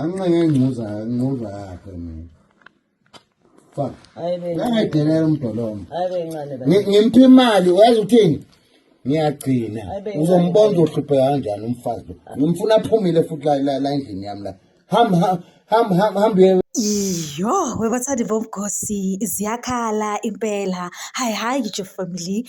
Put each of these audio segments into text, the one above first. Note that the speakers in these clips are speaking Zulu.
anqeke ngcuza ngcuza yakhe mina fuck angadelela umdolomo ngimpi imali wazi uthini ngiyagcina uzombona uzohlupheka kanjani umfazi lo ngimfuna aphumile futhi la la endlini yami la ham ham ham ham Iyo, webathandi bomgosi ziyakhala impela. Hayi hayi ngitsho family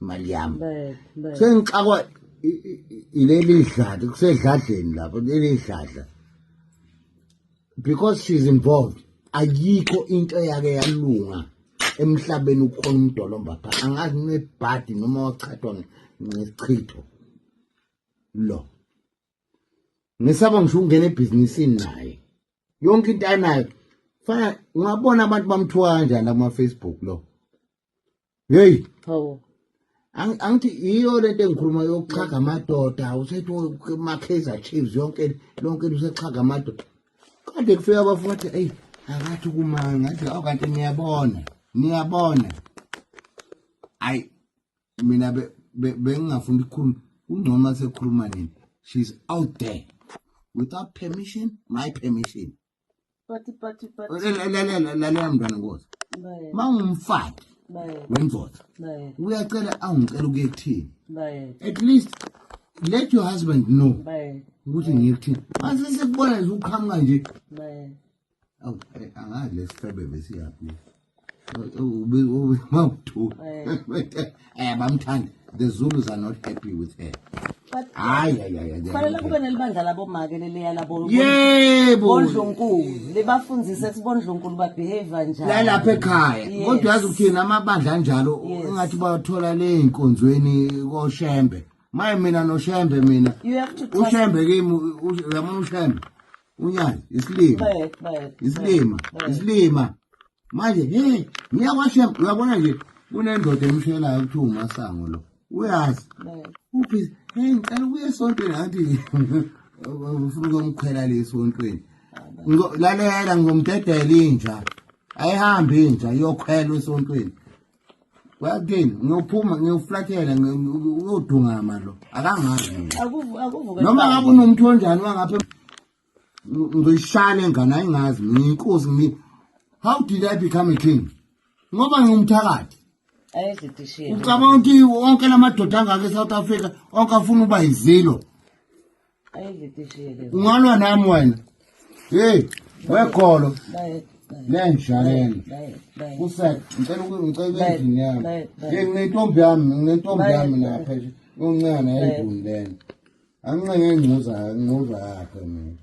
imali yami sengixakwa ileli dladi kusedladleni lapho leli dladla because she's involved ayikho into eyake yalunga emhlabeni ukhona umdolomba pha angazi nebhadi noma wachatwa ngesichitho lo ngisaba ngisho ukungena ebhizinisini naye yonke into anayo fana ungabona abantu bamthiwa kanjani kuma-facebook lo hey hawo angithi iyo lento engikhuluma yokuchaga amadoda usethi makheza chiefs yonke lonke lusechaga amadoda kade kufika abafuna ukuthi eyi akathi kumanga ngathi awu kanti niyabona niyabona ayi mina bengingafuni ukukhuluma kungcono sekhuluma nini she's out there without permission my permission Pati pati pati. Lalela lalela mntwana ngoza. Mawumfati. Wendoda. Uyacela awungicela ukuye kuthini. At least let your husband know. Ukuthi ngiye kuthini. Mase sekubona nje uqhamuka nje. Awu eh, angazi lesifebe besiyaphi. mawuthu eh bamthanda the zulus are not happy with her hayi kufanele kube nelibandla labomake leleya labobondlunkulu libafundise sibondlunkulu babehavior njani lalapha ekhaya kodwa yazi ukuthini amabandla anjalo ingathi bathola ley'nkonzweni koshembe maye mina noshembe mina ushembe kimi uyamona ushembe unyana isilima isilima isilima manje he ngiyakwashema uyabona nje kunendoda emshelayo kuthiwa umasango lo uyazi uphi he ngicela ukuya esontweni ngathi ufuna ukomkhwela le esontweni lalela ngizomdedela inja ayihambe inja iyokhwelwa esontweni wathini ngiyophuma ngiyoflathela uyodungama lo akangazi noma ngabe unomuntu onjani wangapha ngizoyishaya le ngane ayingazi ngiyinkosi ngi how did i become a king ngoba ngingumthakathi ucabanga ukuthi wonke la madoda angaka e-south africa onke afuna uba yizilo ungalwa nami wena hey wegolo nenjalelo kusek ngicela ngicela endlini yami hey nginentombi yami nginentombi yami lapha uncane ayiduni lena anginqenge ingcuza ingcuza yakhe mina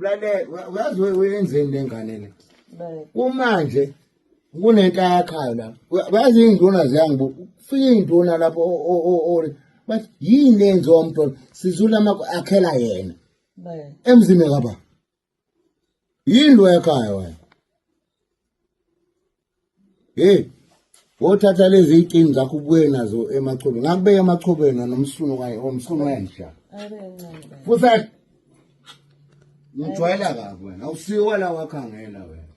Lalela, uyazi we- wenzeni le ngane le? Babe. Kumanje kunento ayakhayo la. Uya- Uyazi iy'nduna ziyangibu. Kufika iy'nduna lapho o- o- o- o- bathi yini le yenziwa umntwana? Sizula amakho akhela yena. Babe. Emzini kababa. Yini lo yakhayo wena? hey wothatha lezi iy'kini zakho ubuye nazo emachobeni ngakubeka emachobeni nomsunu kanye omsunu wenja fuset ngijwayela kabi wena awusiyo wala wakhangela wena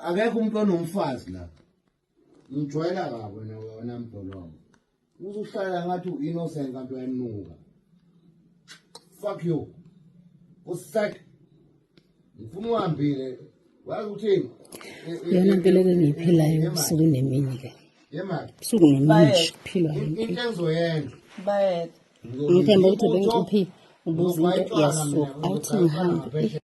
akekho umuntu onomfazi la ngijwayela kabi wena wena mbholo wami uzuhlala ngathi uinnocent kanti uyanuka fuck you usek ngifuna uhambile wazi uthini yona mpilo ke ngiyiphilayo ubusuku nemini ke busuku nemini kuphilwa into engizoyenza bayetha ngithemba ukuthi bengicuphi ubuza into yasuka awuthi ngihambe